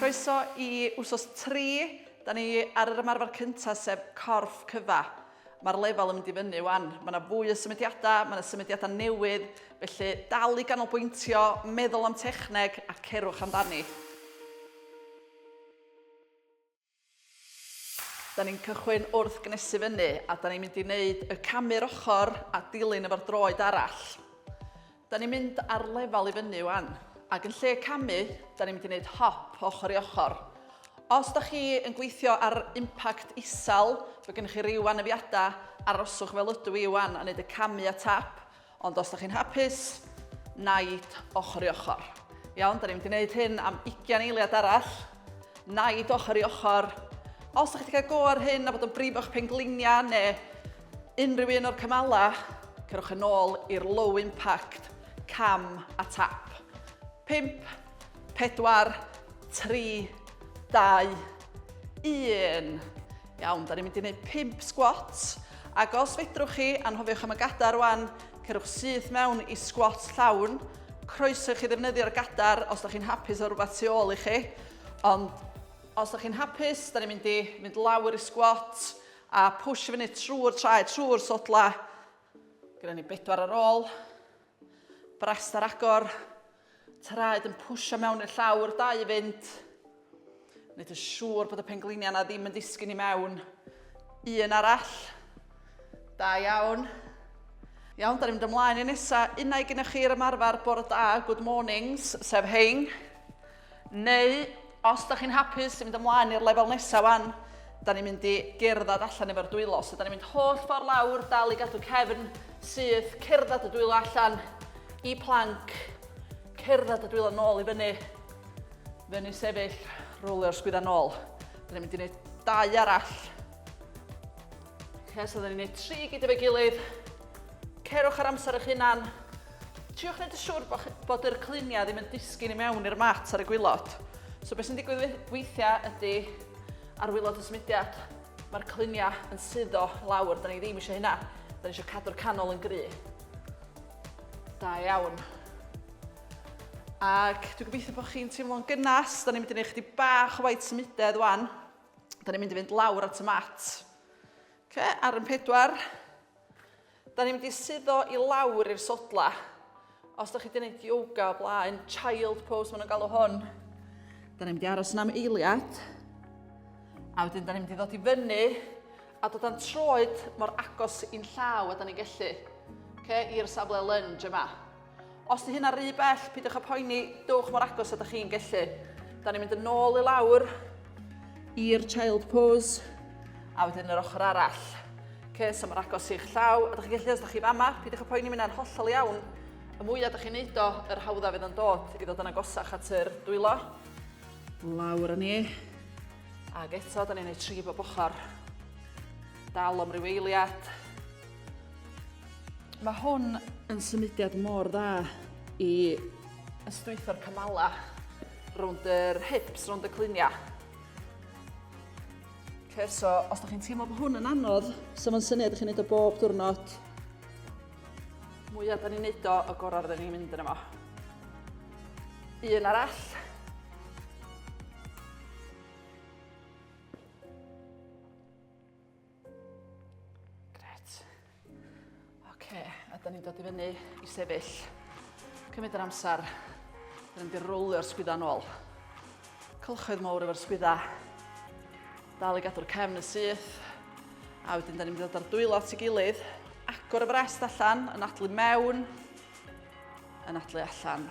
Croeso i wsos 3. Da ni ar yr ymarfer cyntaf sef corff cyfa. Mae'r lefel yn mynd i fyny wan. Mae yna fwy o symudiadau, mae yna symudiadau newydd, felly dal i ganolbwyntio, meddwl am techneg a cerwch amdani. Da ni'n cychwyn wrth gnesu fyny a da ni'n mynd i wneud y camu'r ochr a dilyn efo'r droed arall. Da ni'n mynd ar lefel i fyny wan ac yn lle camu, da ni'n mynd i wneud hop ochr i ochr. Os da chi yn gweithio ar impact isel, fe gennych chi ryw anafiadau, aroswch fel ydw i wan a wneud y camu a tap. Ond os da chi'n hapus, naid ochr i ochr. Iawn, da ni'n gwneud hyn am 20 eiliad arall. Naid ochr i ochr. Os da chi wedi cael go ar hyn a bod yn brif o'ch pengliniau neu unrhyw un o'r cymalau, cerwch yn ôl i'r low impact cam a tap. 5, 4, 3, 2, 1. Iawn, da ni'n mynd i wneud 5 sgwat. Ac os fedrwch chi, anhofiwch am y gadar rwan, cerwch syth mewn i sgwat llawn. Croeso chi ddefnyddio'r gadar os da chi'n hapus o rhywbeth tu ôl i chi. Ond os da chi'n hapus, da ni'n mynd i mynd lawr i sgwat a push i fyny trwy'r traed, trwy'r sodla. Gyda ni bedwar ar ôl. Brest ar agor. Traed yn pwysio mewn i'r llawr, dau i fynd. Wneud yn siŵr bod y pengliniau yna ddim yn disgyn i mewn. Un arall. Da iawn. Iawn, da ni'n mynd ymlaen i nesa. Unau gyda chi yr ymarfer bore da, good mornings, sef hein. Neu, os da chi'n hapus i fynd ymlaen i'r lefel nesaf wan, da ni'n mynd i gerdded allan efo'r dwylo. So da ni'n mynd holl ffordd lawr, dal i gadw cefn syth, cerdded y dwylo allan i planc, cerdded y dwylo nôl i fyny, fyny sefyll, rwlio'r sgwydda nôl. Da ni'n mynd i wneud dau arall. Okay, so da ni'n gwneud tri gyd efo'i gilydd. Cerwch ar amser eich hunan. Triwch wneud yn siŵr bod, bod yr cluniau ddim yn disgyn i mewn i'r mat ar y gwylod. So beth sy'n digwydd weithiau ydy ar wylod y symudiad, mae'r cluniau yn suddo lawr, da ni ddim eisiau hynna. Da ni eisiau cadw'r canol yn gry. Da iawn. Ac dwi'n gobeithio bod chi'n teimlo'n gynnas. Da ni'n mynd i wneud chdi bach o waith symudedd wan. Da ni'n mynd i fynd lawr at y mat. Okay, ar yn pedwar. Da ni'n mynd i suddo i lawr i'r sodla. Os da chi wedi gwneud yoga o blaen, child pose maen nhw'n galw hwn. Da ni'n mynd i aros yn am eiliad. A wedyn da ni'n mynd i ddod i fyny a dod â'n troed mor agos i'n llaw a da ni'n gallu. Okay, i'r safle lunge yma. Os di hynna rhy bell, pidwch a poeni, dowch mor agos a da chi'n gellu. Da ni'n mynd yn ôl i lawr i'r child pose a wedyn yr ochr arall. Okay, so mor agos i'ch llaw, a da chi'n gallu os da chi fama, pidwch a poeni mynd ar hollol iawn. Y mwyaf da chi'n neud o, yr hawdda fydd yn dod i ddod yn agosach at yr dwylo. Lawr â ni. Ac eto, da ni'n neud tri bob ochr. Dal am ryw eiliad. Mae hwn yn symudiad mor dda i ystwytho'r cymalau rownd yr hips, rownd y cluniau. Okay, so os ydych chi'n teimlo bod hwn yn anodd, so mae'n syniad ydych chi'n gwneud o bob diwrnod, mwyaf da ni'n neud o, y gorau rydyn ni'n mynd yn yma. Un arall. Gret. Oce, a da ni'n dod i fyny i sefyll. Cymryd yr amser. Da ni'n mynd i rowlio'r sgwydda yn ôl. Cylchoedd mawr efo'r sgwydda. Dal i gadw'r cefn yn syth. A wedyn da ni'n mynd i ddod ar dwylo at ei gilydd. Agor y frest allan, yn adlu mewn, yn adlu allan.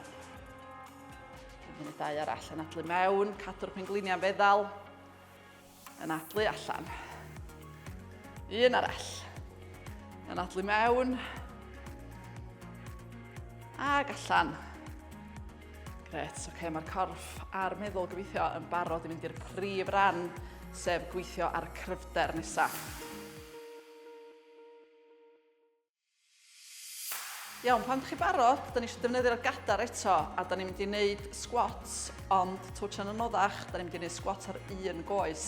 Yn mynd i dau arall, yn adlu mewn, cadw'r pengliniau'n feddal. Anadlu allan. Un arall. Anadlu mewn. Ag allan. Gret, oce, okay, mae'r corff a'r meddwl gobeithio yn barod i mynd i'r prif ran, sef gweithio ar y cryfder nesaf. Iawn, pan ydych chi barod, da ni eisiau defnyddio'r gadar eto a da ni'n mynd i wneud squats, ond twtio'n anoddach, da ni'n mynd i wneud squats ar un goes.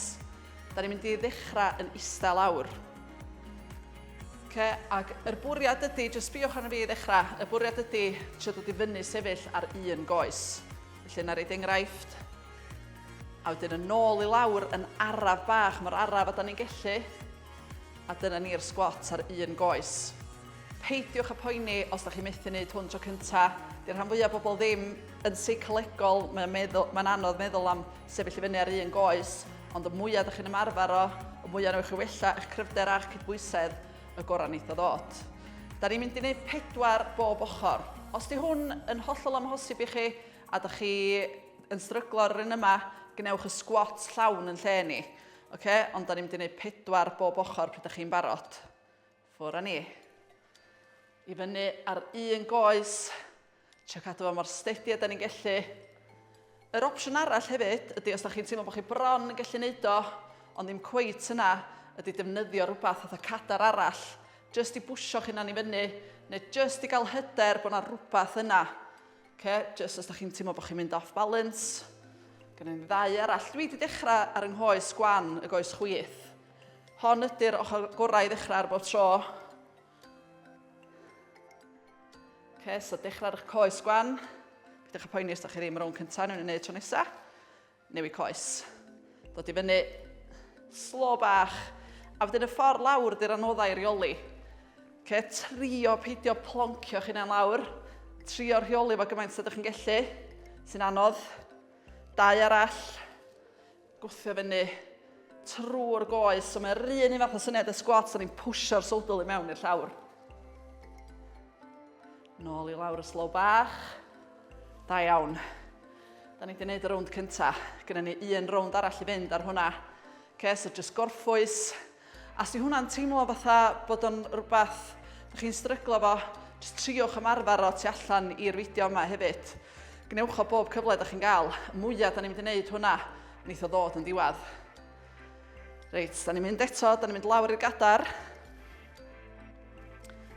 Da ni'n mynd i ddechrau yn eistedd lawr. Okay, ac yr bwriad ydy, jyst sbiwch arno fi i ddechrau, y bwriad ydy trio dod i fyny sefyll ar un goes. Felly yna reid enghraifft. A wedyn yn ôl i lawr yn araf bach, mae'r araf a da ni'n gellu. A dyna ni'r sgwat ar un goes. Peidiwch â poeni os da chi methu wneud hwn tro cynta. Di'r rhan fwyaf bobl ddim yn seicolegol, mae'n meddwl, mae'n anodd meddwl am sefyll i fyny ar un goes, ond y mwyaf da chi'n ymarfer o, y mwyaf newch chi wella eich cryfder a'ch cydbwysedd, y gorau wneith o ddod. Da ni'n mynd i wneud pedwar bob ochr. Os di hwn yn hollol amhosib i chi a da chi yn stryglo ar yr un yma, gwnewch y sgwat llawn yn lle ni. Oce, ond da ni'n mynd i wneud pedwar bob ochr pryd da chi'n barod. Ffwr a ni. I fyny ar un goes. Trio cadw fo mor stedi a da ni'n gellu. Yr opsiwn arall hefyd ydy os da chi'n teimlo bod chi bron yn gallu neud o, ond ddim cweit yna, ydy defnyddio rhywbeth fatha cadar arall, jyst i bwysio chi'n anifynnu, neu jyst i gael hyder bod yna rhywbeth yna. Oce, jyst os da chi'n teimlo bod chi'n mynd off balance. Gan i'n ddau arall. Dwi wedi dechrau ar yng nghoes gwan y goes chwith. Hon ydy'r ochr gorau i ddechrau ar bob tro. Oce, so dechrau ar eich coes gwan. Pidwch â poeni os da chi ddim rownd cyntaf, nhw'n ei wneud tro nesaf. Newid coes. Dod i fyny. Slo bach. A wedyn y ffordd lawr di'r anoddau rheoli. Okay, trio peidio ploncio'ch hunain lawr. Trio rheoli fo gymaint sydd chi'n gellu. Sy'n anodd. Dau arall. Gwthio fyny trwy'r goes. So mae'r un un fath o syniad y sgwats, o'n i'n pwsio'r sodl i mewn i'r llawr. Nôl i lawr y slow bach. Da iawn. Da ni wedi gwneud y rownd cynta. Gynna ni un rownd arall i fynd ar hwnna. Okay, so just gorffwys. A si hwnna'n teimlo fatha bod o'n rhywbeth ydych chi'n stryglo fo, jyst triwch ymarfer o tu allan i'r fideo yma hefyd. Gwnewch o bob cyfle ydych chi'n gael. Y mwyaf da ni'n mynd i wneud hwnna, wneith o ddod yn ddiwedd. Reit, da ni'n mynd eto, da ni'n mynd lawr i'r gadar.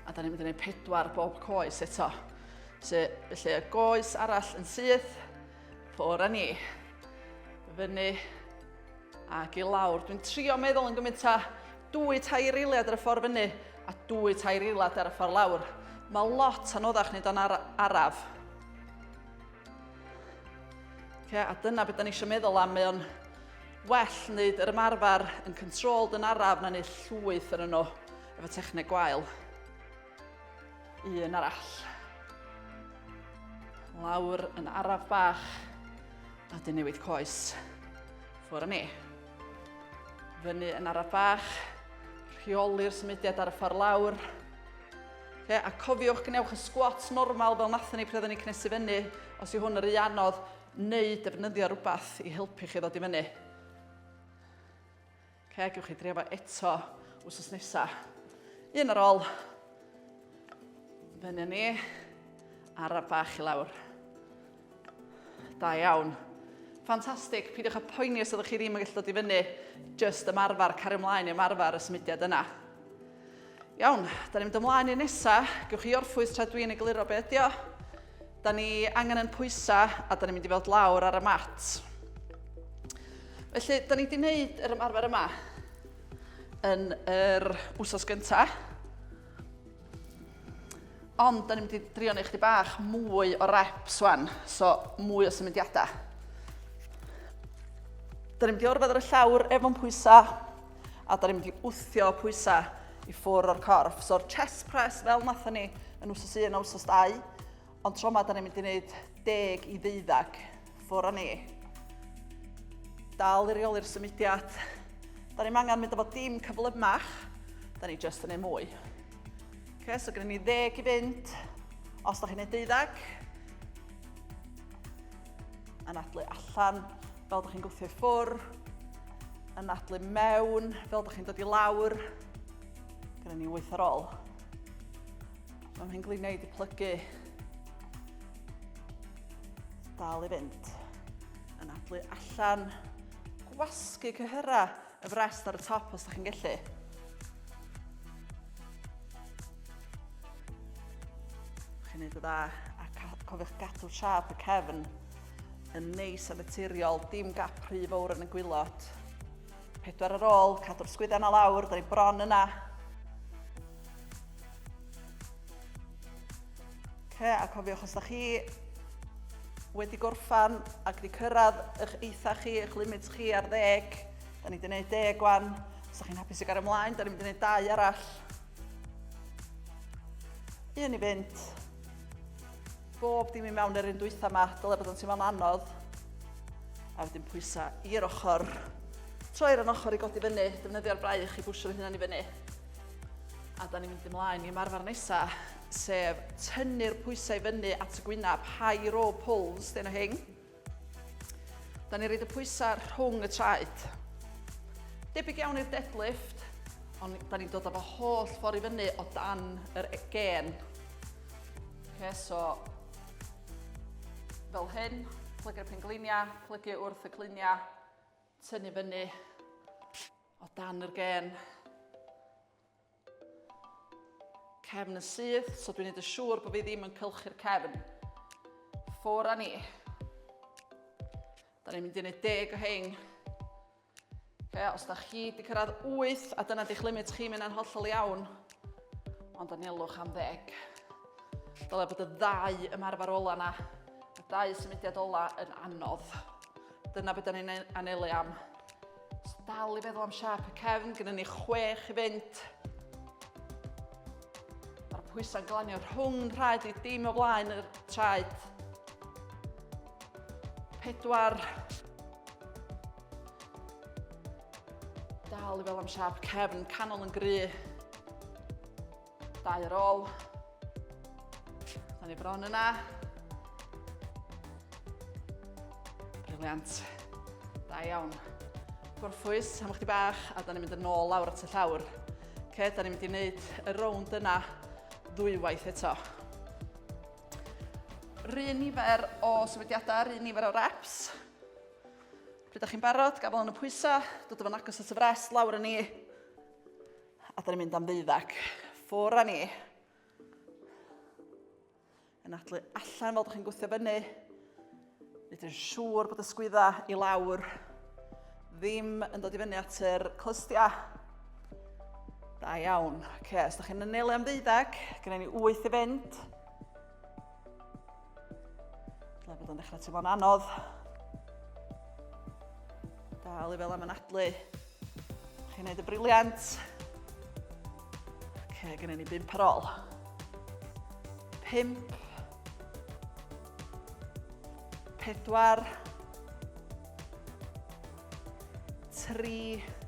A da ni'n mynd i wneud pedwar bob coes eto. So, felly y goes arall yn syth, ffwr â ni. Fyny ac i lawr. Dwi'n trio meddwl yn gymaint â dwy tair eiliad ar y ffordd fyny a dwy tair eiliad ar y ffordd lawr. Mae lot anoddach nid o'n ar araf. Okay, a dyna beth da ni eisiau meddwl am, mae o'n well wneud yr ymarfer yn controlled yn araf na wneud llwyth yn yno efo techneg gwael. Un arall. Lawr yn araf bach a dyn newid coes. Ffwr â ni. Fyny yn araf bach, rheoli'r symudiad ar y ffordd lawr. Ie, a cofiwch gwnewch y sgwats normal fel nathon ni pryd oedden ni cnesu fyny, os yw hwn yr rhy anodd, neu defnyddio rhywbeth i helpu chi ddod i fyny. Oce, gewch chi drio fo eto wsos nesa. Un ar ôl. Fyny ni. Araf bach i lawr. Da iawn. Ffantastig, peidiwch â poeni os ydych chi ddim yn gallu dod i fyny, jyst ymarfer, cario ymlaen i ymarfer y symudiad yna. Iawn, da ni'n mynd ymlaen i'r nesa, gewch chi orffwys tra dwi'n egluro be ydi o. Da ni angen yn pwysa a da ni'n mynd i fod lawr ar y mat. Felly, da ni wedi gwneud yr ymarfer yma yn yr wsos gyntaf. Ond, da ni'n mynd i drio neu chdi bach mwy o reps wan, so mwy o symudiadau. Da ni'n mynd i orfod ar y llawr efo'n pwysau, a da ni'n mynd i wthio pwysau i ffwr o'r corff. So'r chest press fel nathon ni yn wsos 1 a wsos 2, Ond tro yma, da ni'n mynd i wneud deg i ddeuddag ffwr a ni. Dal i reoli'r symudiad. Da ni'n angen mynd efo dim cyflymach. Da ni just yn ei mwy. Okay, so gyda ni ddeg i fynd. Os da chi'n ei deuddag, yn adlu allan fel ydych chi'n gwthio i ffwr, yn adlu mewn fel ydych chi'n dod i lawr, gyda ni wyth ar ôl. Mae hyn gliniau wedi plygu. Dal i fynd. Yn adlu allan. Gwasgu cyhyrra y frest ar y top os da chi'n gallu. Chi'n neud y dda a cofiwch gadw siap y cefn yn neis a naturiol, dim gap rhy fawr yn y gwylod. Pedwar ar ôl, cadw'r sgwydda na lawr, da ni bron yna. Okay, a cofiwch os da chi wedi gorffan ac wedi cyrraedd eich eitha chi, eich limit chi ar ddeg. Da ni wedi gwneud deg wan. Os ydych chi'n hapus i gael ymlaen, da ni'n mynd i wneud dau arall. Un i fynd. Bob dim i mewn yr un dwytha yma, dyle bod yn teimlo'n anodd. A wedyn pwysa i'r ochr. Troi'r yn ochr i godi fyny, defnyddio'r braich i bwsio'r hynna'n i fyny. A da ni'n mynd ymlaen i marfer nesa, sef tynnu'r pwysau fyny at y gwynaf, high row pulls, dyn o hyn. Da ni'n rhaid y pwysau rhwng y traed. Debyg iawn i'r deadlift, ond da ni'n dod â fo holl ffordd i fyny o dan yr e- gen. Okay, so, fel hyn, plygu'r pengliniau, plygu wrth y cliniau, tynnu fyny o dan yr gen. Cefn yn syth, so dwi'n neud yn siŵr bod fi ddim yn cylchu'r cefn. Ffwr a ni. Da ni'n mynd i neud deg o hein. Okay, os da chi di cyrraedd 8 a dyna di'ch limit chi, mynd yna'n hollol iawn. Ond anelwch am ddeg. Dyle bod y ddau ymarfer ola na, y ddau symudiad ola yn anodd. Dyna beth da ni'n anelu am. So dal i feddwl am siarp y cefn, gyda ni chwech i fynd. Mae'r pwysau'n glanio rhwng rhaid i dim o blaen yr traed. Pedwar. Dal i fel am siarp cefn, canol yn gry. Dau ar ôl. Da ni bron yna. Briliant. Da iawn. Gorffwys am chdi bach a da ni'n mynd yn ôl lawr at y llawr. Ce, da ni'n mynd i wneud y rownd yna ddwywaith eto. Rhyn nifer o sefydiadau, rhyn nifer o reps. Pryd da chi'n barod, gafel yn y pwysau, dod o fan agos at y fres, lawr yn ni. A da ni'n mynd am ddeuddag. Ffwr a ni. Yn adlu allan fel da chi'n gwythio fyny. Nid yn siŵr bod y sgwydda i lawr ddim yn dod i fyny at yr clystiau. Da iawn. Oce, okay, os da chi'n ynelu am ddeuddag, gyda ni wyth i fynd. Dyle bod o'n dechrau teimlo'n anodd. Dal i fel am anadlu. Chi'n gwneud y briliant. Ok, gynnu ni bimp ar ôl. Pimp. Pedwar. Tri. Pedwar.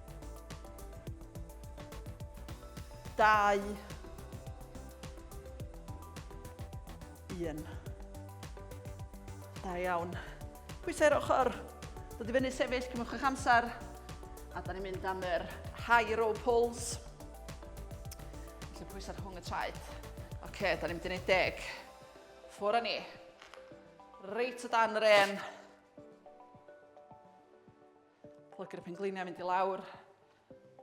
dau, 1. Da iawn. Pwysau'r ochr. Dod i fyny sefyll, cymwch eich amser. A da ni'n mynd am yr high row pulls. Felly pwysau rhwng y traed. Oce, okay, da ni'n mynd i wneud deg. Ffwr â ni. Reit o dan yr en. Plygu'r pengliniau mynd i lawr.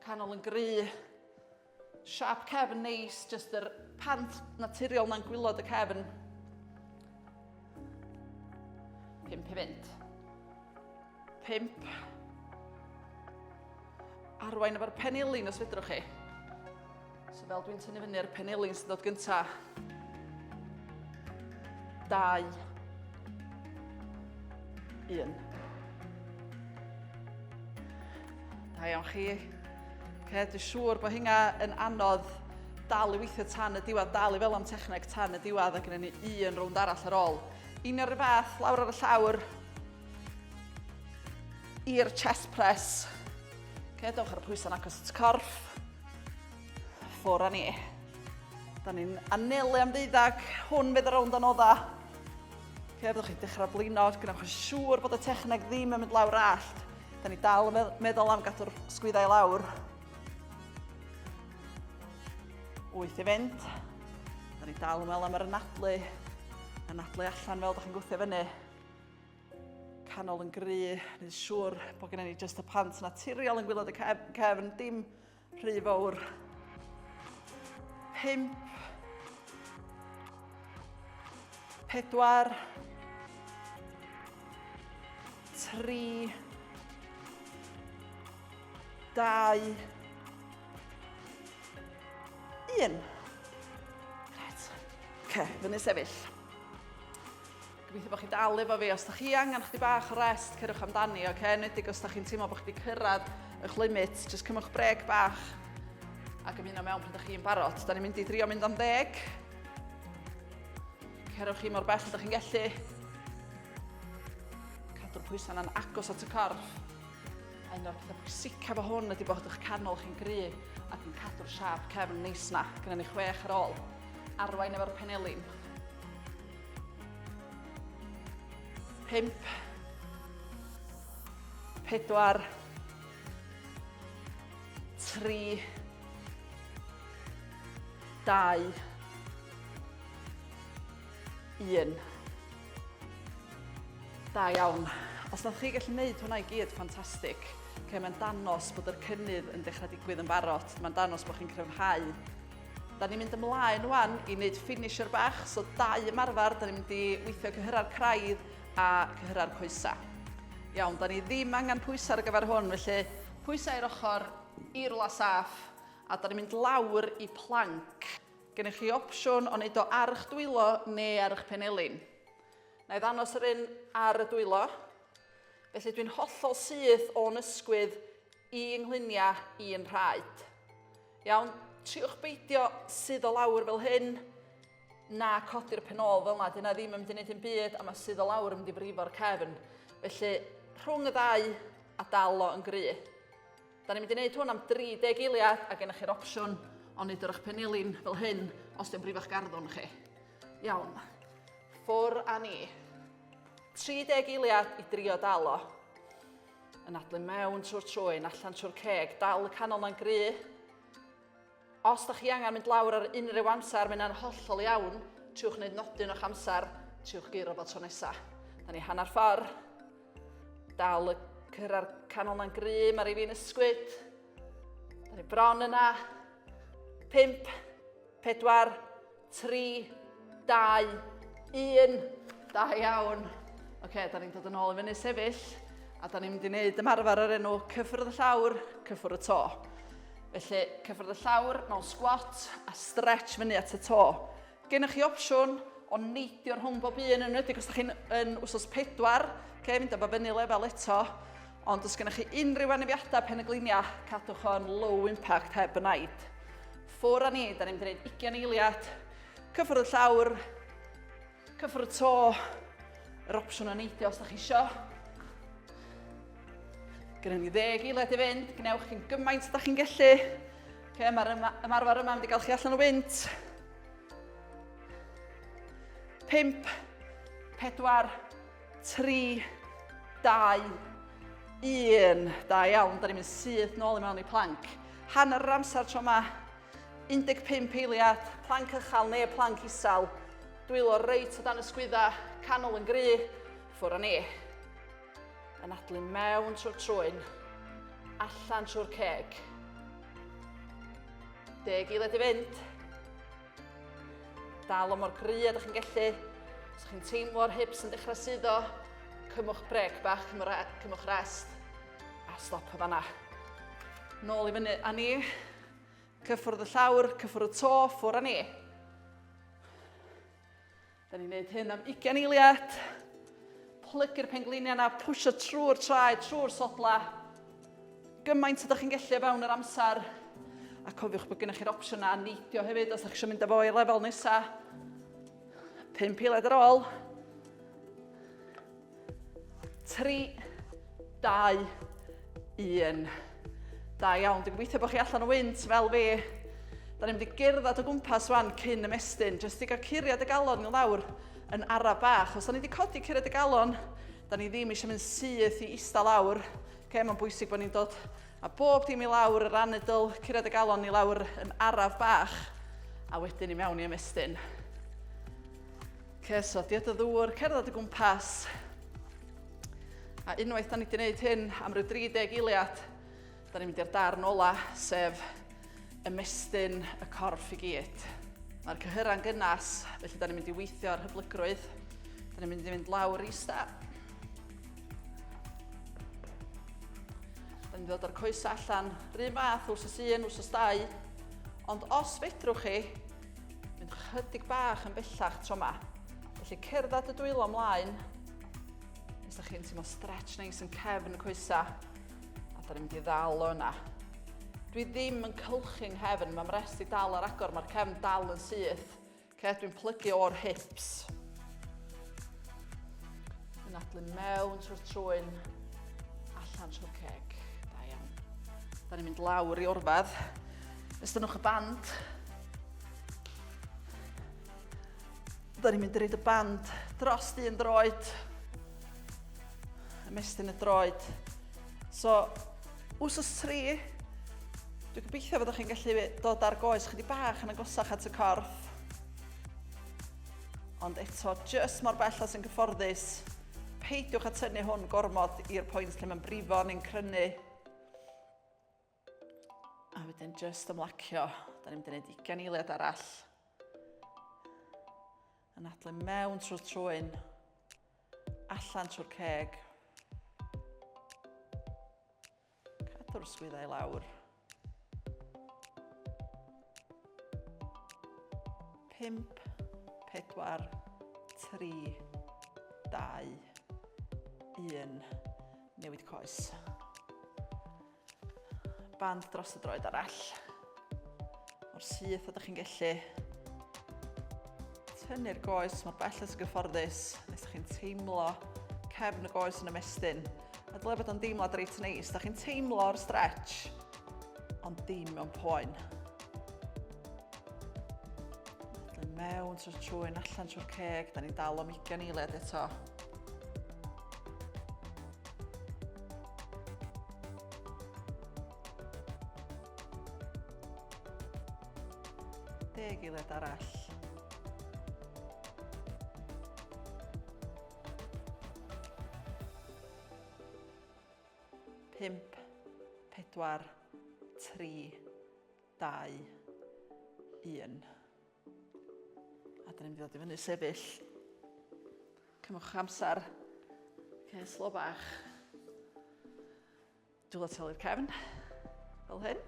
Canol yn gry. Siap cefn neis, jyst yr pant naturiol na'n gwylod y cefn. Pimp i fynd. Pimp. Arwain efo'r penilin os fedrwch chi. So fel dwi'n tynnu fyny ar y penelin sy'n dod gynta. Dau. Un. Da iawn chi. Okay, dwi'n siŵr bod hynna yn anodd dal i weithio tan y diwedd, dal i fel am techneg tan y diwedd ac yn ni un rownd arall ar ôl. Un o'r fath, lawr ar y llawr, i'r chest press. Okay, dewch ar y pwysau'n agos at corff. Ffwr a ni. Da ni'n anelu am ddeuddag. Hwn fydd y rownd o nodda. Ok, byddwch chi'n dechrau blino, gynnwch yn siŵr bod y techneg ddim yn mynd lawr allt. Da ni dal yn meddwl am gadw'r sgwyddau lawr. Wyth i fynd. Da ni dal yn meddwl am yr anadlu. Anadlu allan fel da chi'n gwthio fyny. canol yn gry, nid siŵr bod gennym ni jyst y pant naturiol yn gwylod y cefn, dim rhy fawr. Pimp. Pedwar. Tri. Dau. Un. Right. Ok, fyny sefyll. Gobeithio bod chi'n dal efo fi. Os da chi angen chdi bach o rest, cyrwch amdani, oce? Okay? Nedig os da chi'n teimlo bod chdi cyrraedd eich limit, just cymwch breg bach ac ymuno mewn pryd da chi'n barod. Da ni'n mynd i drio mynd am ddeg. Cerwch chi mor bell ydych chi'n gellu. Cadw'r pwysau yna'n agos at y corff. A un o'r pethau pwysicaf o hwn ydy bod eich canol chi'n gry ac yn cadw'r siap cefn neis na. Gynna ni chwech ar ôl. Arwain efo'r penelin. Pump. Pedwar. Tri. Dau. Un. Da iawn. Os ydych chi gallu gwneud hwnna i gyd, ffantastig. Okay, mae'n danos bod yr cynnydd yn dechrau digwydd yn barod. Mae'n danos bod chi'n cryfhau Da ni'n mynd ymlaen wan i wneud finisher bach, so dau ymarfer, da ni'n mynd i weithio cyhyrra'r craidd a cyhyrra'r coesau. Iawn, da ni ddim angen pwysau ar gyfer hwn, felly pwysau i'r ochr, i rwla saff, a da ni'n mynd lawr i planc. Gennych chi opsiwn o wneud o ar eich dwylo neu ar eich penelin. Na i ddanos yr un ar y dwylo. Felly dwi'n hollol syth o'n ysgwydd i yngluniau i'n rhaid. Iawn, triwch beidio sydd o lawr fel hyn, na codi'r pen ôl fel yna, dyna ddim yn mynd i wneud yn byd, a mae sydd o lawr yn mynd i frifo'r cefn. Felly, rhwng y ddau a dal o yn gry. Da ni'n mynd i wneud hwn am 30 eiliad a gennych chi'r opsiwn o wneud yr eich penilin fel hyn os di'n brifo'ch garddwn chi. Iawn, ffwr a ni. 30 eiliad i drio dal o. Anadlu mewn trwy'r trwyn, allan trwy'r ceg, dal y canol na'n gry. Os da chi angen mynd lawr ar unrhyw amser, mae yna'n hollol iawn. Triwch wneud nodyn o'ch amser, triwch geiro fo tro nesa. Da ni hanner ffordd. Dal y cyrra'r canol na'n gry, mae rhaid fi'n ysgwyd. Da ni bron yna. 5, 4, 3, 2, 1. Da iawn. Oce, da ni'n dod yn ôl i fyny sefyll. A da ni'n mynd i wneud ymarfer o'r enw cyffwrdd y llawr, cyffwrdd y to. Felly, cyffwrdd y llawr mewn sgwat a stretch fyny at y to. Gennych chi opsiwn o neidio rhwng bob un yn wedi, os ydych chi'n yn wsos pedwar, okay, mynd efo fyny lefel eto. Ond os gennych chi unrhyw anafiadau pen y gliniau, cadwch o'n low impact heb y naid. Ffwr a ni, da ni'n mynd i wneud ugian eiliad. Cyffwrdd y llawr, cyffwrdd y to, yr opsiwn o neidio os da chi isio. Gynnu ni ddeg eiliad i fynd, gwnewch chi'n gymaint da chi'n gellu. Okay, Mae'r ymarfer yma yn mynd i gael chi allan o wynt. 5, 4, 3, 2, 1. Da iawn, da ni'n mynd syth nôl i mewn i planc. Hanner yr amser tro yma, 15 eiliad, planc ychal neu planc isel. Dwylo reit o dan y sgwydda, canol yn gry, ffwr o ni. Yn adlu mewn trwy'r trwyn, allan trwy'r ceg. Deg eiliad i fynd. Dal o mor gry a dych chi'n gellu. Os chi'n teimlo'r hips yn dechrau suddo, cymwch brec bach, cymwch rest a stop y fanna. Nôl i fyny a ni. Cyffwrdd y llawr, cyffwrdd y to, ffwr a ni. Da ni'n gwneud hyn am 20 eiliad. Plygu'r pengliniau yna, pwysio trwy'r traed, trwy'r sodla. Gymaint ydych chi'n gallu o fewn yr amser. A cofiwch bod gennych chi'r opsiynau a neidio hefyd os ydych chi'n mynd â fo i lefel nesaf. Pum eiliad ar ôl. 3, 2, 1. Da iawn, dwi'n gweithio bod chi allan o wynt fel fi. Da ni'n mynd i gerdded o gwmpas wan cyn ymestyn, jyst i gael curiad y galon i lawr yn ara bach. Os da ni wedi codi curiad y galon, da ni ddim eisiau mynd syth i eista lawr. Okay, mae'n bwysig bod ni'n dod a bob dim i lawr, yr anedl, curiad y galon i lawr yn araf bach, a wedyn i mewn i ymestyn. Ceso, diod y ddŵr, cerdded y gwmpas. A unwaith da ni wedi gwneud hyn am rhyw 30 eiliad, da ni'n mynd i'r darn ola, sef ymestyn y corff i gyd. Mae'r cyhyra'n gynnas, felly da ni'n mynd i weithio ar hyblygrwydd. Da ni'n mynd i fynd lawr i sta. Da ni'n dod o'r coes allan, rhy math, wrth y un, wrth y stau. Ond os fedrwch chi, Mynd chydig bach yn bellach tro ma. Felly cerdded y dwylo mlaen. Os da chi'n teimlo stretch neis yn cefn y coesa. A da ni'n mynd i ddal o yna. Dwi ddim yn cylchu'n nghefn, mae'n mres i dal ar agor, mae'r cefn dal yn syth. Ce, dwi'n plygu o'r hips. Yn adlu mewn trwy'r trwyn, allan trwy'r ceg. Da iawn. Da ni'n mynd lawr i orfad. Estynnwch y band. Da ni'n mynd i reid y band dros un droed. Ymestyn y droed. So, wsos 3, dwi'n gobeithio fod chi'n gallu dod ar goes chydig bach yn agosach at y corff. Ond eto, jyst mor bell as yn gyfforddus, peidiwch a tynnu hwn gormod i'r pwynt lle mae'n brifo neu'n crynu. A wedyn just ymlacio. Da ni'n mynd i wneud ugen eiliad arall. Yn adlu mewn trwy'r trwy'n. Allan trwy'r ceg. Cadw'r swyddau lawr. Pimp, pedwar, tri, dau, un. Newid coes. Band dros y droed arall. O'r syth ydych chi'n gallu tynnu'r goes mor bell as gyfforddus nes ydych chi'n teimlo cefn y goes yn ymestyn. A dyle bod o'n deimlad reit neis. Da chi'n teimlo'r stretch, ond dim mewn poen. Dyn mewn trwy'r trwy'n allan trwy'r ceg, da ni'n dal o'm ugen eiliad eto. Deg eiliad arall. Pimp, pedwar, tri, dau, un. A dyn ni'n mynd i ddod i fyny sefyll. Cymwch amser. Okay, slo bach. Dwylo telu'r cefn. Fel hyn.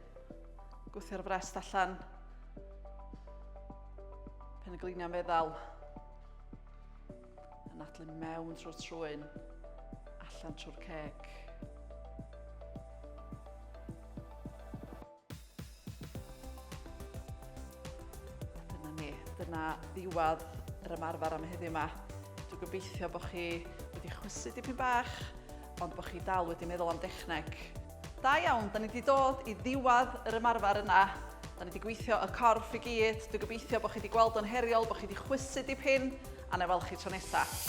Gwthio'r frest allan. Pen y gliniau'n feddal. Yn adlu mewn trwy'r trwy'n. Allan trwy'r ceg. Dyna ni, dyna ddiwedd yr ymarfer am heddiw 'ma. Dwi'n gobeithio bod chi wedi chwysu dipyn bach, ond bod chi dal wedi meddwl am dechneg. Da iawn, da ni wedi dod i ddiwedd yr ymarfer yna. Da ni wedi gweithio y corff i gyd. Dwi'n gobeithio bod chi wedi gweld o'n heriol, bod chi wedi chwysu dipyn, a na i weld chi tro nesaf.